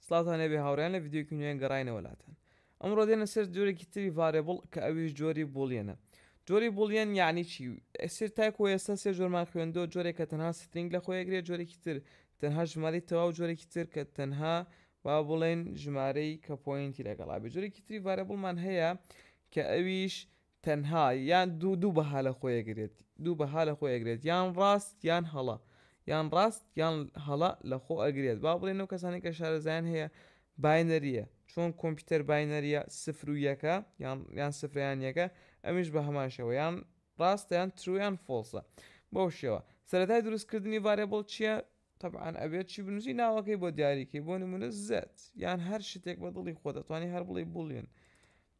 سڵاوتان لێبێ هاوڕێیان لە ڤیدیۆیەکی نوێ گەڕاینەوە لاتان ئەمڕۆ دێنە سەر جۆرێکی تری ڤارێبڵ کە ئەویش جۆری بوڵیەنە جۆری بوڵیەن یعنی چی ئەسیر تاکو ئێستا سێ جۆرمان خوێندۆ جۆرێک کە تەنها سترینگ لە خۆیەگرێت جۆرێکی تر تەنها ژماری تەواو جۆرێکی تر کە تەنها با بڵێن ژمارەی کە پۆینتی لەگەڵا بێ جۆرێکی تری ڤارێبڵمان هەیە کە ئەویش تەنها یان دوو دوو بەها لە خۆی ئەگرێت دوو بەها لە خۆی ئەگرێت یان ڕاست یان هەڵە یان ڕاست یان هەڵە لە خۆ ئەگرێت با بڵێن ئەو کەسانی کە شارەزایان هەیە باینەریە چۆن کۆمپیوتەر باینەریە سفر و یەکە یان یان سفریان یەکە ئەمیش بە هەمان شێوە یان ڕاستیان ترویان فۆڵسە بەو شێوە سەرەتای دروستکردنی ڤارێبڵ چییە طبعاان ئەبێت چی بنووسی ناوەکەی بۆ دیاریکەی بۆ نمونە زەت یان هەر شتێک بە دڵی خۆ دەتوانانی هەر بڵی بڵێن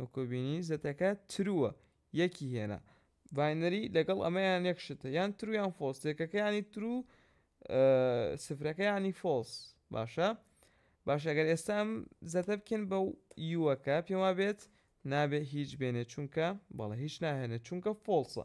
وەکو بینی زەتەکە ترووە یەکی هێنا باینەری لەگەڵ ئەمەیان یەک شتە یان ترو یان فۆڵس یەکەکە ینی ترو سفرەکە ینی فۆڵس باشە باشە گەر ئێستا ئەم زەتە بکەن بە یوەکە پێما بێت نابێت هیچ بێنێت چونکە بەڵە هیچ ناهێنێت چونکە فۆڵسە